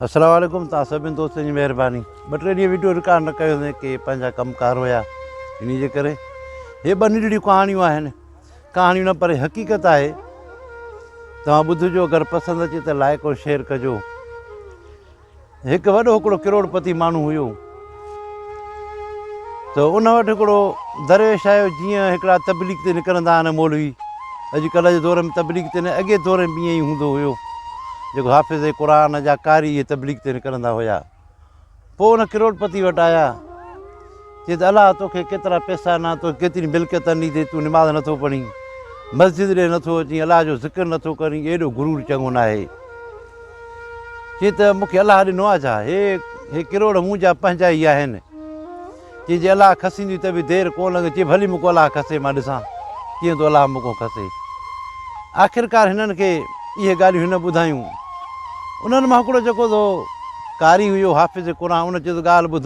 السلام عليڪم توهان سڀني دوستن جي مهرباني ٻه ٽي ڏينهن وڊيو رڪارڊ نه ڪيو هوندين ڪي پنهنجا ڪم ڪار هيا انهي جي ڪري هي ٻه ننڍڙيون ڪهاڻيون آهن ڪهاڻيون نه پر حقيقت آهي توهان ٻڌجو اگر پسند اچي ته لائق ۽ شيئر ڪجو هڪ وڏو هڪڙو ڪروڙ پتي ماڻهو هيو ته ان وٽ هڪڙو درويش آيو جيئن هڪڙا تبليغ تي نڪرندا آهن مولوي اڄ ڪلهه جي دور ۾ تبليغ تي نه اڳي دور ۾ به ائين ئي هوندو هيو جيڪو حافظ قرآن جا قاري اهي تبليغ تي نڪرندا هيا پوء ان ڪروڙ پتي وٽ آيا چي ته الله توکي ڪيترا پيسا ڏنا تو ڪيتري ملڪيت اني اٿئي تون نماز نٿو پڙهين مسجد ڏي نٿو اچين الله جو ذڪر نٿو ڪرين ايڏو غرور چڱو ناهي چي ته مون کي الله ڏنو آ ڇا؟ هي هي ڪروڙ مون جا پنهنجا ئي آهن. چي جي الله کسيندي ته به دير ڪو لڳ چي ڀلي مون کان الله کسي مان ڏسان ڪيئن ٿو الله مون کان کسي. آخرڪار هنن کي اهي ڳالهيون هن ٻڌايون. انهن مان هڪڙو جيڪو ٿو قاري هيو حافظ قرآن ان چيو ته ڳالهه ٻڌ.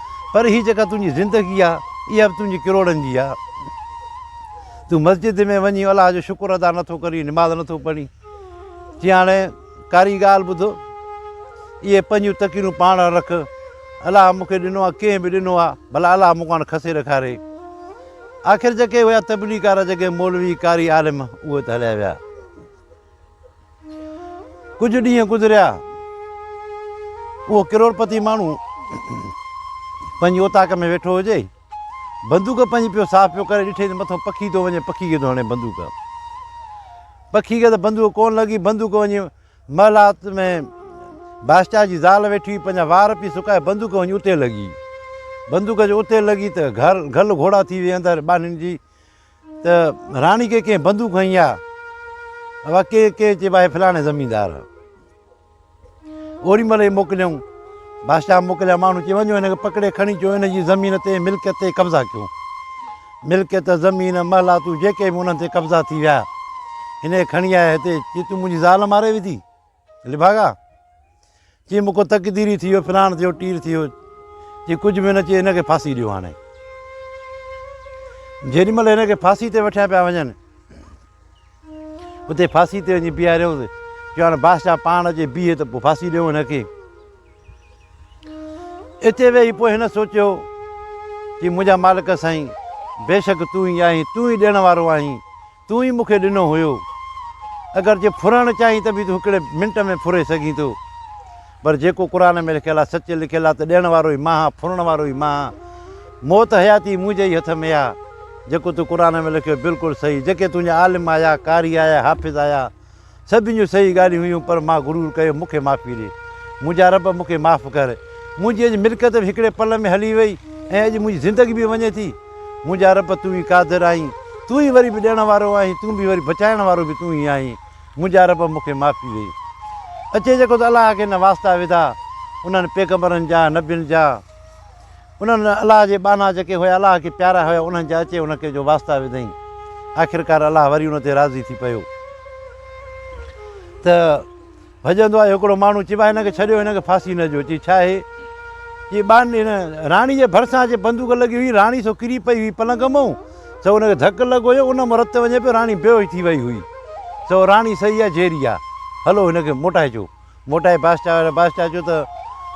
پر هي جيڪا تنهنجي زندگي آ اها به تنهنجي ڪروڙن جي آ تون مسجد ۾ وڃي الله جو شڪر ادا نه ٿو ڪرين نماز نه ٿو پڙهين چي هاڻي ڪاري ڳالهه ٻڌو اهي پنهنجون تڪيرون پاڻ رک الله مون کي ڏنو آ ڪنهن به ڏنو آ ڀلا الله مون کان کسي رکاري آخر جيڪي هيا تبليغ ڪارا جيڪي مولوي ڪاري عالم اهي ته هليا ويا ڪجهه ڏينهن گذريا. اهو ڪروڙپتي ماڻهو پنهنجي اوطاق ۾ ويٺو هجي. بندوق پنهنجي پيو صاف پيو ڪري، ڏٺئي ته مٿو پکي ٿو وڃي، پکي کي ٿو هڻي بندوق. پکي کي ته بندوق ڪونه لڳي، بندوق وڃي محلات ۾ بادشاهه جي زال ويٺي هئي، پنهنجا وار پئي سڪائي، بندوق وڃي اتي لڳي. بندوق جو اتي لڳي ته گهل گهوڙا ٿي وئي اندر ٻانهن جي. ته راڻي کي ڪنهن بندوق هنئي آ؟ اها ڪي ڪي چيبا هي فلاڻي زميندار آ. اوري مهل هي موڪليائون بادشاهه موڪليا ماڻهو چي وڃو هن کي پڪڙي کڻي چو هن جي زمين تي ملڪيت تي قبضا ڪيو ملڪيت زمين محلاتون جيڪي به انهن تي قبضا ٿي ويا هن کي کڻي آيا هتي چي تون منهنجي زال ماري وڌي لڀاڳا! چي مون کان تقديري ٿي ويو، ڦراڻ ٿي ويو، ٽير ٿي ويو. چي ڪجهه به نه چي هن کي ڦاسي ڏيو هاڻي. جيڏي مهل هن کي ڦاسي تي وٺيا پيا وڃن، اتي ڦاسي تي وڃي بيهاريوس. چيو هاڻي بادشاهه پاڻ اچي بيهي ته پوء ڦاسي ڏيو هن کي. اتي ويهي پوء هن سوچيو چي منهنجا مالڪ سائين بيشڪ تون ئي آهين، تون ئي ڏيڻ وارو آهين. تون ئي مون کي ڏنو هيو. اگر جي ڦرڻ چاهين ته به تون هڪڙي منٽ ۾ ڦري سگهين ٿو. پر جيڪو قرآن ۾ لکيل آهي سچ لکيل آهي ته ڏيڻ وارو ئي مان آهيان ڦرڻ وارو ئي مان آهيان. موت حياتي منهنجي ئي هٿ ۾ آهي. جيڪو تو قرآن ۾ لکيو بلڪل صحيح. جيڪي تنهنجا عالم آيا، قاري آيا، حافظ آيا. سڀني جون صحيح ڳالهيون هيون پر مان غرور ڪيو مون کي معافي ڏي منهنجا رب مون کي معاف ڪر منهنجي اڄ ملڪيت به هڪڙي پل ۾ هلي وئي ۽ اڄ منهنجي زندگي به وڃي ٿي منهنجا رب تون ئي قادر آهين تون ئي وري به ڏيڻ وارو آهين تون به وري بچائڻ وارو به تون ئي آهين منهنجا رب مون کي معافي ڏي اچي جيڪو ته الله کي نه واسطا وڌا انهن پيغمبرن جا نبين جا انهن الله جي ٻانها جيڪي هيا الله کي پيارا هيا انهن جا اچي ان کي جو واسطا وڌائين آخرڪار الله وري ان تي راضي ٿي پيو ته ڀڄندو آيو هڪڙو ماڻهو چيبا هن کي ڇڏيو هن کي ڦاسي نه ڏيو چي ڇا هي چي ٻان هن راڻي جي ڀرسان جي بندوق لڳي هئي راڻي سو ڪري پئي هئي پلنگ مئو سو ان کي ڌڪ لڳو هيو ان مرت وڃي پيو راڻي بيهوش ٿي وئي هئي سو راڻي صحيح آ جيري آ هلو هن کي موٽائجو موٽائي بادشاهه وٽ. بادشاهه چيو ته،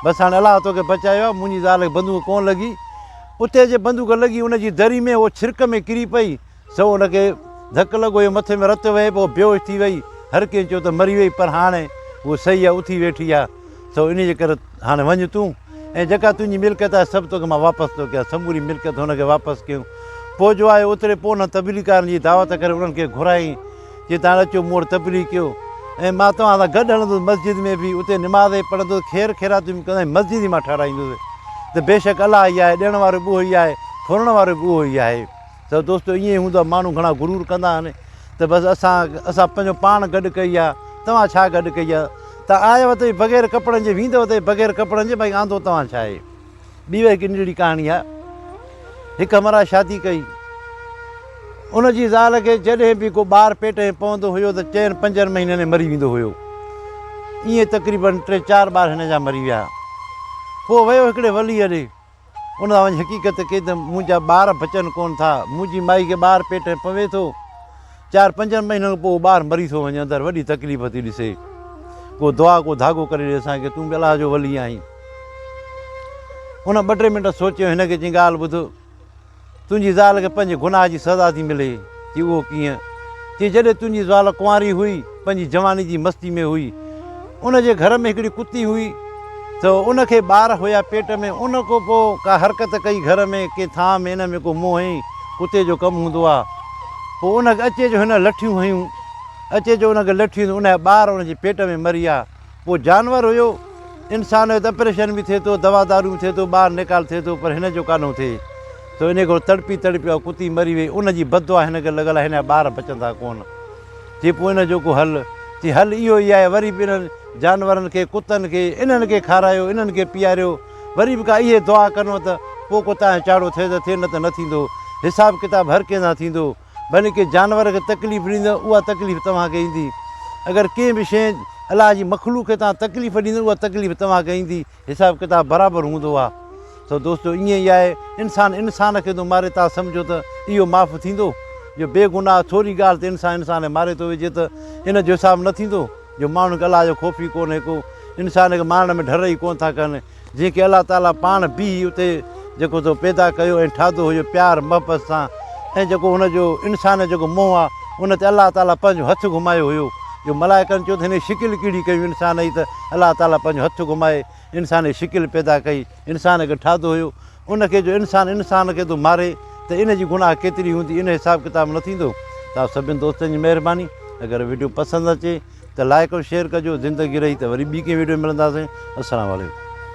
بس هاڻي الله توکي بچايو آهي، منهنجي زال کي بندوق ڪونه لڳي. اتي جي بندوق لڳي ان جي دري ۾ هوء ڇرڪ ۾ ڪري پئي، سو ان کي ڌڪ لڳو جو مٿي ۾ رت وهي پيو، بيهوش ٿي وئي. هر ڪنهن چيو ته مري وئي، پر هاڻي هوء صحيح آهي، اٿي ويٺي آهي، سو انهيء جي ڪري هاڻي وڃ تون ۽ جيڪا تنهنجي ملڪيت آهي، سڀ توکي مان واپس ٿو ڪيان. سموري ملڪيت هن کي واپس ڪيون. پوء جو آيو اتري پونهن تبليغ ڪارن جي دعوت ڪري انهن کي گهرايائين. جي تان اچو مون وٽ تبليغ ڪيو ۽ مان توهان سان گڏ هلندس مسجد ۾ به اتي نماز ۽ پڙهندس خير خيراتيون به ڪندس مسجد ئي مان ٺهرائيندس ته بيشڪ الله ئي آهي ڏيڻ وارو به اهو ئي آهي ڦرڻ وارو به اهو ئي آهي ته دوستو ائين ئي هوندو آهي ماڻهو گهڻا غرور ڪندا آهن ته بس اسان اسان پنهنجو پاڻ گڏ ڪئي آهي توهان ڇا گڏ ڪئي آهي ته آيو ته بغير ڪپڙن جي ويندو ته بغير ڪپڙن جي بھي آندو توهان ڇا آهي ٻي به هڪ ننڍڙي ڪهاڻي آهي. هڪ همراهه شادي ڪئي. ان جي زال کي جڏهن به ڪو ٻار پيٽ ۾ پوندو هيو ته چئن پنجن مهينن ۾ مري ويندو هيو. ائين تقريباً ٽي چار ٻار هن جا مري ويا. پوء ويو هڪڙي وليء ڏي. ان سان وڃي حقيقت ڪئي ته منهنجا ٻار بچن ڪونه ٿا. منهنجي مائي کي ٻار پيٽ ۾ پوي ٿو. چار پنجن مهينن کان پوء ٻار مري ٿو وڃي اندر وڏي تڪليف ٿي ڏسي ڪو دعا ڪو ڌاڳو ڪري ڏي اسان کي تون به الله جو ولي آهين ان ٻه ٽي منٽ سوچيو هن کي چي ڳالهه ٻڌ تنهنجي زال کي پنهنجي گناهه جي سزا ٿي ملي چي اهو ڪيئن چي جڏهن تنهنجي زال ڪنواري هئي پنهنجي جواني جي مستي ۾ هئي. ان جي گهر ۾ هڪڙي ڪتي هئي ته ان کي ٻار هيا پيٽ ۾ ان کان پوء ڪا حرڪت ڪئي گهر ۾ ڪنهن ٿانء ۾ ان ۾ ڪو منهن هنئي ڪتي جو ڪم هوندو آ پوء ان کي اچي جو هن لٺيون هنيون اچي جو ان کي لٺيون ته ان جا ٻار ان جي پيٽ ۾ مري ويا پوء جانور هيو انسان هيو ته اپريشن به ٿئي ٿو دوا دارو به ٿئي ٿو ٻار نيڪال ٿئي ٿو پر هن جو ڪانه ٿئي ٿو ان کان تڙپي تڙپي اها ڪتي مري وئي ان جي بددعا هن کي لڳل آ هن جا ٻار بچندا ڪونه. تي پوء ان جو ڪو حل؟ تي حل اهو ئي آهي وري به انهن جانورن کي، ڪتن کي، انهن کي کارايو، انهن کي پياريو. وري به ڪا اهي دعا ڪنو ته پوء ڪو تانئن چاڙهو ٿئي ته ٿئي نه ته نه ٿيندو. حساب ڪتاب هر ڪنهن سان ٿيندو. ڀلي ڪنهن جانور کي تڪليف ڏيندء اها تڪليف توهان کي ايندي. اگر ڪنهن به شيء الله جي مخلوق کي توهان تڪليف ڏيندء اها تڪليف توهان کي ايندي. حساب ڪتاب برابر هوندو آ سو دوستو ائين ئي آهي انسان انسان کي ٿو ماري تان سمجهو ته اهو معاف ٿيندو جو بي گناهه ٿوري ڳالهه تي انسان انسان کي ماري ٿو وجهي ته ان جو حساب نه ٿيندو جو ماڻهن کي الله جو خوف ئي ڪونهي ڪو انسان کي مارڻ ۾ ڍر ئي ڪونه ٿا ڪن جنهن کي الله تعاليٰ پاڻ بيهي اتي جيڪو تو پيدا ڪيو ۽ ٺاھدو ھو اھو پيار محبت سان ۽ جيڪو ھن جو انسان جو جيڪو منھن آ ان تي الله تعالي پنھنجو ھٿ گھمايو ھيو جو ملائڪن چيو ته ھن جي شڪل ڪھڙي ڪيون انسان جي ته الله تعالي پنھنجو ھٿ گھمائي انسان جي شڪل پيدا ڪئي انسان کي ٺاھدو ھيو ان کي جو انسان انسان کي تو ماري ته ان جي گناھ ڪيتري ھوندي ان حساب ڪتاب نه ٿيندو ته آپ سڀني دوستن جي مھرباني اگر ويڊيو پسند اچي ته لائيڪ ۽ شيئر ڪجو زندگي رھي ته وري ٻي ڪنھن ويڊيو ۾ ملنداسين السلام عليڪم.